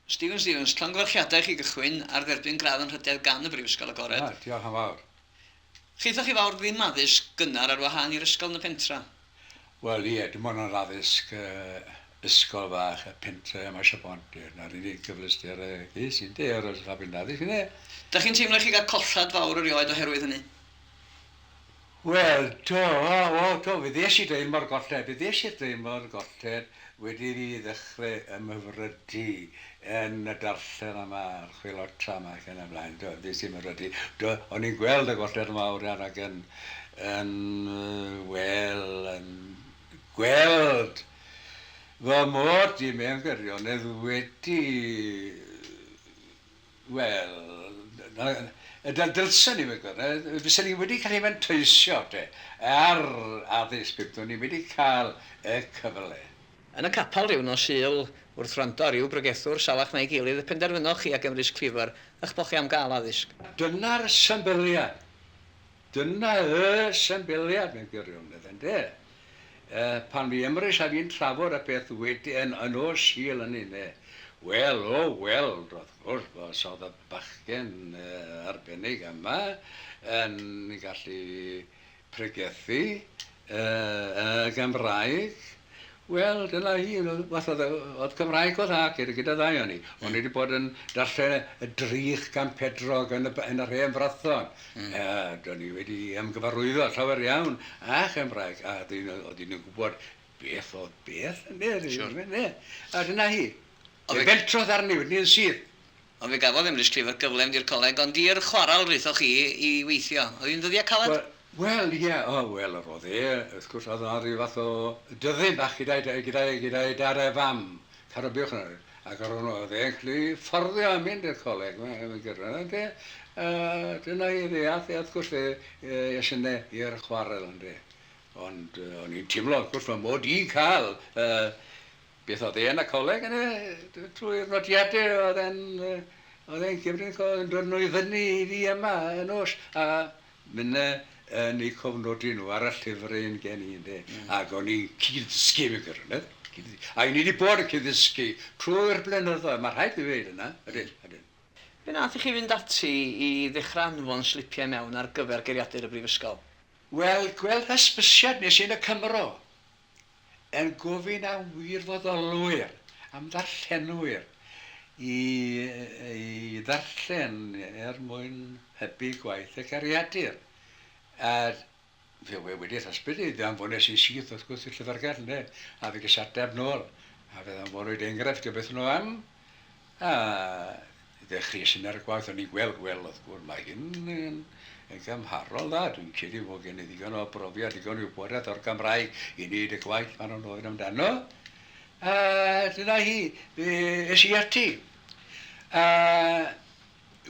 Stephen Stevens, llongyfarchiadau i chi gychwyn ar dderbyn gradd anrhydedd gan y Brifysgol Agored. O, diolch yn fawr. Chithoch chi fawr ddim addysg gynnar ar wahân i'r ysgol yn y pentre? Wel, ie, dim ond yr addysg ysgol fach y pentre yma Sir Bontyr. Na'r unig gyfleuster y ges i, ynde, oedd rhaglen addysg, ynde? Dach chi'n teimlo i chi gael collhad fawr erioed oherwydd hynny? Wel, do, o, do, fe ddes i draean mor golled, fe ddes i'r draean mor golled wedi i fi ddechrau ymhyfrydu yn y darllen yma, a'r chwilota yma ac yn y blaen, do, fe ddes i ymhyfrydu. Do, o'n i'n gweld y golled yn fawr iawn ac yn, yn, wel, yn gweld fy mod i mewn gwirionedd wedi Wel, na, na, dylsen i fod yn gwneud, fysen ni wedi gallu fanteisio, te, ar addysg, byddwn ni wedi cael y cyfle. Yn y capel ryw nos Sul, wrth wrando ar ryw bregethwr salach na'i gilydd, y penderfynoch chi a Gymrys Cleaver, ych bod chi am gael addysg. Dyna'r symbyliad. Dyna y symbyliad mewn gwirionedd, ynde? Pan fu Emrys a fi'n trafod y peth wedyn yn ôl Sul yn Nine, wel, o weld, wrth gwrs, os oedd y bachgen arbennig yma yn gallu pregethu, Yy y Gymraeg? Wel dyna hi yn y fath o dde- o'dd Cymraeg o'dd 'na gyda gyda ddau o'n ni. O'n i 'di bod yn darllen y y drych gan Pedrog yn y b- yn yr hen Frython. Hmm. Yy do'n i wedi ymgyfarwyddo llawer iawn â Chymraeg a o'dd un o o'dd un yn gwbod beth o'dd beth ynde? Siŵr. Ynde? A dyna hi. O'dd e... Fe fentrodd arni wedyn 'ny yn syth. Ond fe gafodd Emrys Clifford gyfle mynd i'r coleg, ond i'r chwarel rhythoch chi i weithio. Oedd hi'n ddyddiau caled? Wel, ie, o, wel, yr oedd e, wrth gwrs, oedd yna rhyw fath o dyddyn bach gyda'i d- gyda'i gyda'i dad a'i fam, Cara Buwch nawr, ac yr o'n- oedd e'n gallu fforddio a mynd i'r coleg, mae mae'n gyrr- yy ynde? A dyna i fe, ath e, wrth gwrs, fe yy es yna i'r chwarel, ynde? Ond yy o'n i'n timlo, wrth gwrs, fy mod i'n cael yy Beth oedd e yn y coleg yna? Trwy'r nodiadau oedd e'n oedd e'n cymryd yn dod nhw i fyny i fi yma y nos a mynd yn eu cofnodi nhw ar y llyfr un gen i ynde. Mm. Ac o'n i'n cyd-ddysgu mewn gwirionedd. A o'n i wedi bod yn cyd-ddysgu trwy'r blynyddoedd, mae rhaid i ddweud yna, ydyn, ydyn. Be nath i chi fynd ati i ddechrau anfon slipiau i mewn ar gyfer geiriadur y brifysgol? Wel, gwell hysbysiad nes i yn y Cymro. yn gofyn am wirfoddolwyr, am ddarllenwyr i ddarllen er mwyn hybu gwaith y Cariadur. A fe wedi'r hysbryd i fe anfonais yn syth wrth gwrs i'r Llyfrgell ynde, a fe ges ateb nôl, a fe ddanfonwyd enghraifft o beth o'n nhw am. A ddechreuais i ar y gwaith, o'n i'n gweld, wel, wrth gwrs, mae hyn yn yn gymharol dda. Dwi'n credu fod gen i ddigon o brofiad, digon o wybodaeth o'r Gymraeg i wneud y gwaith maen nhw'n ofyn amdano. A dyna hi, fe es i ati. A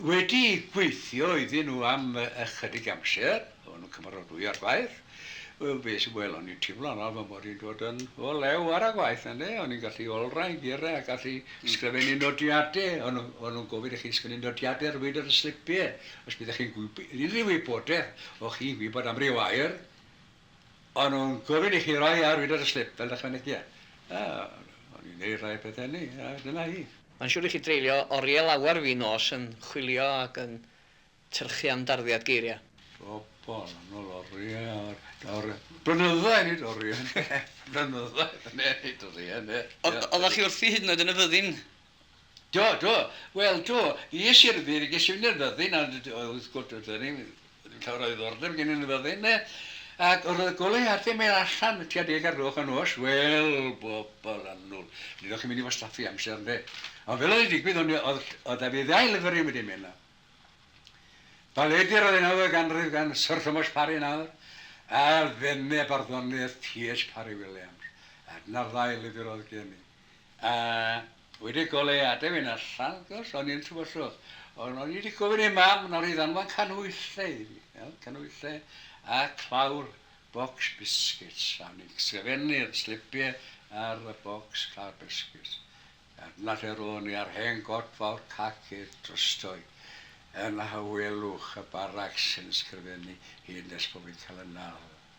Wedi gweithio iddyn nhw am ychydig amser, o'n nhw'n cymarodwy ar gwaith, wel be sy wel o'n i'n timlo yno fy mod i'n dod yn o lew ar y gwaith ynde, o'n i'n gallu olrhain geiriau a gallu sgrifennu nodiade, o'n nhw o'n nhw'n gofyn i chi sgwennu nodiade ar wyd ar y slipie, os byddech chi'n gwybod unrhyw wybodaeth o chi'n gwybod am ryw air, O'n nhw'n gofyn i chi roi ar wydred y slip fel ychwanegiad. A, o'n i'n neud rhai o pethe hynny, a dyna hi. Mae'n siŵr i chi dreulio oriel lawer fin nos yn chwilio ac yn tyrchu am darddiad geiria. Bobol yn ol orie o'r o'r blynyddoedd nid orie ynde? Blynyddoedd yn ne nid orie ynde? Ond oddach chi wrthi hyd yn oed yn y fyddin Do, do. Wel, do. Fi es i'r ddyn, ges i fynd i'r fyddin, a wrth gwrs, oedd hynny, ddim llawer o ddiddordeb gen i yn y fyddin, ne? Ac oedd y goleuadau mynd allan y tua deg ar gloch y nos, wel, bobl annwl. Nid o'ch chi'n mynd i wastaffu amser, ynde? Ond fel oedd yn digwydd, o'n i, oedd, oedd da fi ddau lyfr i wedi mynd na. Baledi Raddenawdd y Ganrif gan Syr Thomas Parry nawr, a Fenne Barddoniaeth TH Parry Williams. A dyna'r ddau lyfr oedd gen i. A wedi goleuadau fynd allan wrth gwrs o'n i yn tywysog ond o'n i wedi gofyn i mam nawr i ddanfon canhwyllau i fi iawn canhwyllau a clawr bocs biscuits a o'n i'n sgrifennu'r slipiau ar y bocs clawr biscuits a dyna lle ro'n ni a'r hen god fawr cac i'r drysdoi yn hawelwch y barac sy'n sgrifennu hyd nes bod fi'n cael y nal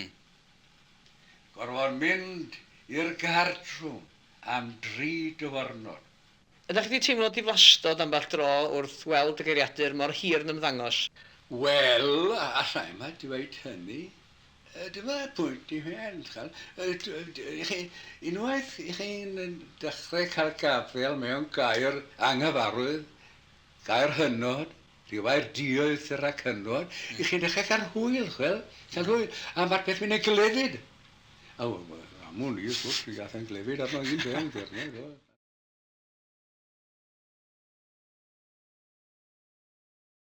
Yn gorfod mynd i'r gartrwm am dri dyfyrnod. Ydach chi wedi teimlo diflastod ambell dro wrth weld y geiriadur mor hir yn ymddangos? Wel, alla i'm ddweud hynny. Dyma'r pwynt i fynd, ch'wel'. Y'ch chi, unwaith y'ch chi'n dechre cael gafael mewn gair anghyfarwydd, gair hynod, Rhywai'r dioedd syr a cynwod i chi'n dechrau cael hwyl, chwel, cael hwyl, a ma'r peth mynd yn glefyd. A wel, wel, am wn i, wrth gwrs, mi gath e'n glefyd arno un ben, Gernyw, do.